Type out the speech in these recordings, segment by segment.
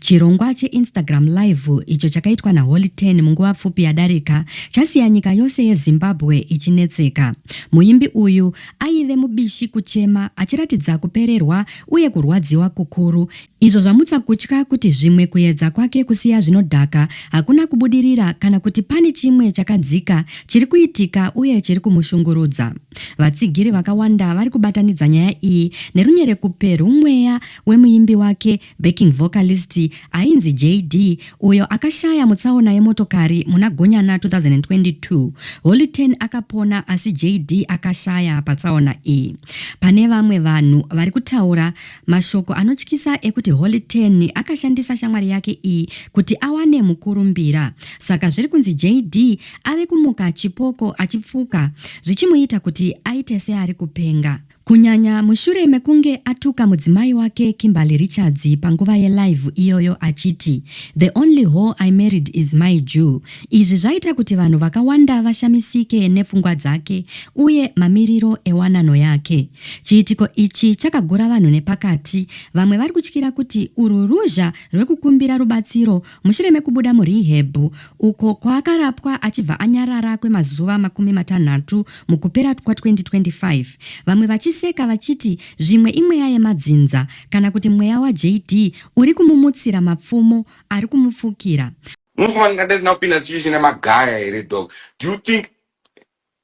Chirongwa cheInstagram Live icho chakaitwa naHoly Ten munguva pfupi yadarika chasiya nyika yose yeZimbabwe ichinetseka. Muimbi uyu aive mubishi kuchema achiratidza kupererwa uye kurwadziwa kukuru izvo zvamutsa kutya kuti zvimwe kuedza kwake kusiya zvinodhaka hakuna kubudirira kana kuti pane chimwe chakadzika chiri kuitika uye chiri kumushungurudza. Vatsigiri vakawanda vari kubatanidza nyaya iyi nerunyerekupwe rwumweya wemuimbi wake Backing vocalist ainzi JD uyo akashaya mutsaona yemotokari muna Gonyana 2022. Holy Ten akapona asi JD akashaya patsaona iyi. Pane vamwe vanhu vari kutaura mashoko anotyisa ekuti Holy Ten akashandisa shamwari yake iyi kuti awane mukurumbira. Saka zviri kunzi JD ave kumuka chipoko achipfuka zvichimuita kuti aite seari kupenga. Kunyanya mushure mekunge atuka mudzimai wake Kimberly Richards panguva yelive iyoyo achiti the only whore I married is my Jew. Izvi zvaita kuti vanhu vakawanda vashamisike nepfungwa dzake uye mamiriro ewanano yake. Chiitiko ichi chakagura vanhu nepakati vamwe vari kutyira kuti urwu ruzha rwekukumbira rubatsiro Mushure mekubuda muRehab, uko kwaakarapwa achibva anyarara kwemazuva makumi matanhatu mukupera kwa-2025, vamwe vachiseka vachiti zvimwe imweya yemadzinza kana kuti mweya waJD uri kumumutsira mapfumo ari kumupfukira. Musi wandingadai ndisina kupinda sichishina magaya here dog do you think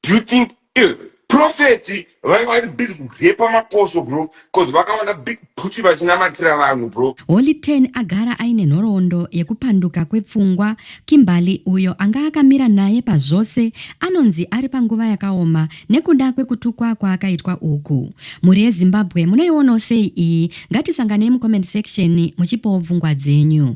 Do you think eh, prophet vaiva vari busy kurepa maposo bro cause vakaona big booty vachinamatira vanhu bro Holy Ten agara aine nhoroondo yekupanduka kwepfungwa. Kimberly, uyo anga akamira naye pazvose, anonzi ari panguva yakaoma nekuda kwekutukwa kwaakaitwa uku. Mhuri yeZimbabwe munoionawo sei iyi? Ngatisanganei mucomment section muchipawo pfungwa dzenyu.